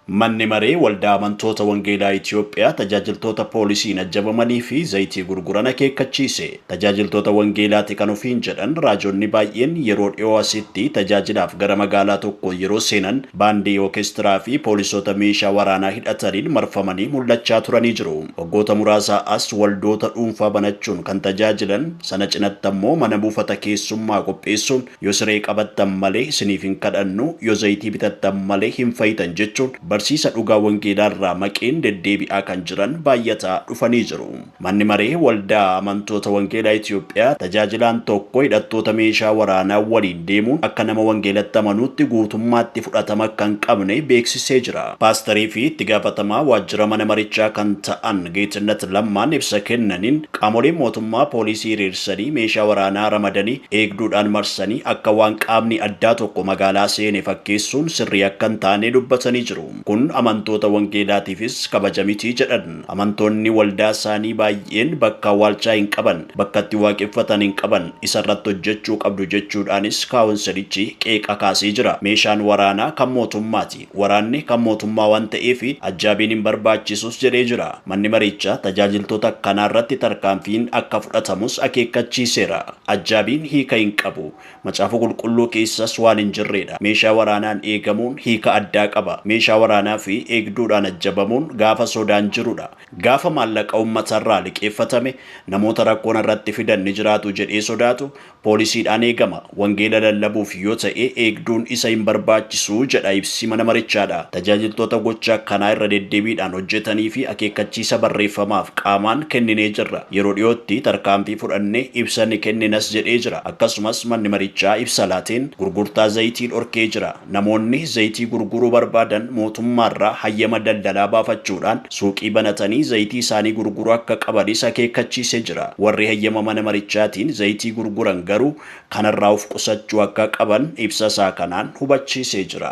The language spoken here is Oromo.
Manni Maree Waldaa Amantoota Wangeelaa Itiyoophiyaa tajaajiltoota poolisiin ajjabamanii fi zayitii gurguran akeekkachiise. Tajaajiltoota Wangeelaati kan ofiin jedhan raajonni baay'een yeroo dhiyoo asitti tajaajilaaf gara magaalaa tokkoo yeroo seenan baandii ookestiraa fi poolisoota meeshaa waraanaa hidhataniin marfamanii mul'achaa turanii jiru. Waggoota muraasaa as waldoota dhuunfaa banachuun kan tajaajilan, sana cinatti ammoo mana buufata keessummaa qopheessuun Yo siree qabattan malee isiniif hin kadhannu, yo zayitii bitattan malee hin fayitan jechuun barsiisa dhugaa wangeelaa irraa maqeen deddeebi'aa kan jiran baay'ataa dhufanii jiru. Manni Maree Waldaa Amantoota Wangeelaa Itiyoophiyaa tajaajilaan tokko hidhattoota meeshaa waraanaa waliin deemuun akka nama wangeelatti amanuutti guutummaatti fudhatama akka hin qabne beeksisee jira. Paastarii fi itti gaafatamaa waajjira mana marichaa kan ta'an Geetinnat Lammaan ibsa kennaniin, qaamoleen mootummaa poolisii hiriirsaa sanii meeshaa waraanaa ramadanii eegduudhaan marsanii akka waan qaamni addaa tokko magaalaa seene fakkeessuun sirrii akka hin taane dubbatanii jiru. Kun amantoota wangeelaatiifis kabaja miti jedhan. Amantoonni waldaa isaanii baay'een bakka awwaalchaa hin qaban, bakka itti waaqeffatan hin qaban, isa irratti hojjechuu qabdu jechuudhaanis kaawonsilichi qeeqa kaasee jira. Meeshaan waraanaa kan mootummaati. Waraanni kan mootummaa waan ta'eef ajjaabiin hin barbaachisus jedhee jira. Manni mariichaa tajaajiltoota akkanaa irratti tarkaanfiin akka fudhatamus akeekkachiiseera. Ajjaabiin hiika hin qabu. Macaafa Qulqulluu keessas waan hin jirreedha. Meeshaa waraanaan eegamuun hiika addaa qaba. Meeshaa waraanaa fi eegduudhaan ajjabamuun gaafa sodaan jirudha. Gaafa maallaqa uummatarraa liqeeffatame namoota rakkoon irratti fidan ni jiraatu jedhee sodaatu Poolisiidhaan eegama. Wangeela lallabuuf yoo ta'e eegduun isa hin barbaachisu, jedha ibsi mana marichaadha. Tajaajiltoota gocha akkanaa irra deddebiidhaan hojjetaniifi akeekkachiisa barreeffamaaf qaamaan kenninee jirra. Yeroo dhiyootti tarkaanfii fudhanne ibsa ni kenninas jedhee jira. Akkasumas manni marichaa ibsa laateen gurgurtaa zayitii dhorkee jira. Namoonni zayitii gurguruu barbaadan mootummaarraa hayyama daldalaa baafachuudhaan suuqii banatanii zayitii isaanii gurguruu akka qabanis akeekkachiisee jira. Warri hayyama mana marichaatiin zayitii gurguran garuu kanarraa of qusachuu akka qaban ibsa isaa kanaan hubachiisee jira.